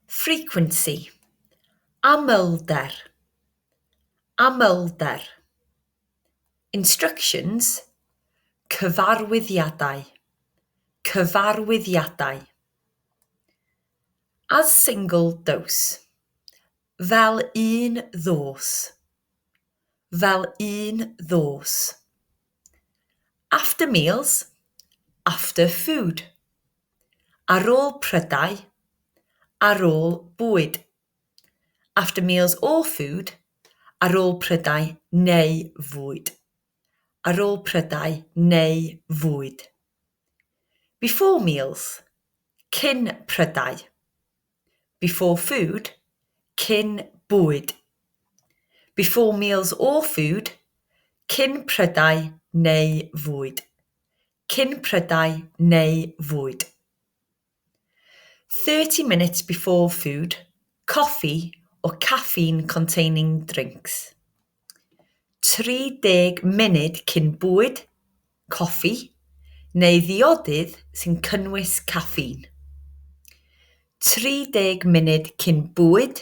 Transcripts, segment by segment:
frequency amlder amlder instructions cyfarwyddiadau cyfarwyddiadau as single dose fel un ddos fel un ddos After meals, after food Ar ôl prydau, ar ôl bwyd After meals or food, ar ôl prydau neu fwyd Ar ôl prydau neu fwyd Before meals, cyn prydau. Before food, cyn bwyd. Before meals or food, cyn prydau neu fwyd. Cyn prydau neu fwyd. 30 minutes before food, coffee or caffeine-containing drinks. 30 munud cyn bwyd, coffi, neu ddiodydd sy'n cynnwys caffîn. 30 munud cyn bwyd,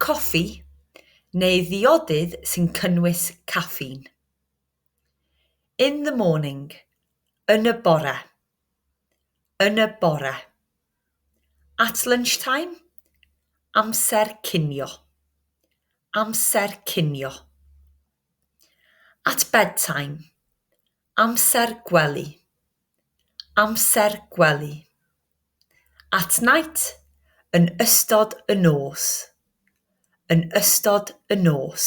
coffi, neu ddiodydd sy'n cynnwys caffîn. In the morning, yn y bore, yn y bore. At lunchtime, amser cinio, amser cinio. At bedtime, amser gwely, amser gwely. At night, yn ystod y nos, yn ystod y nos.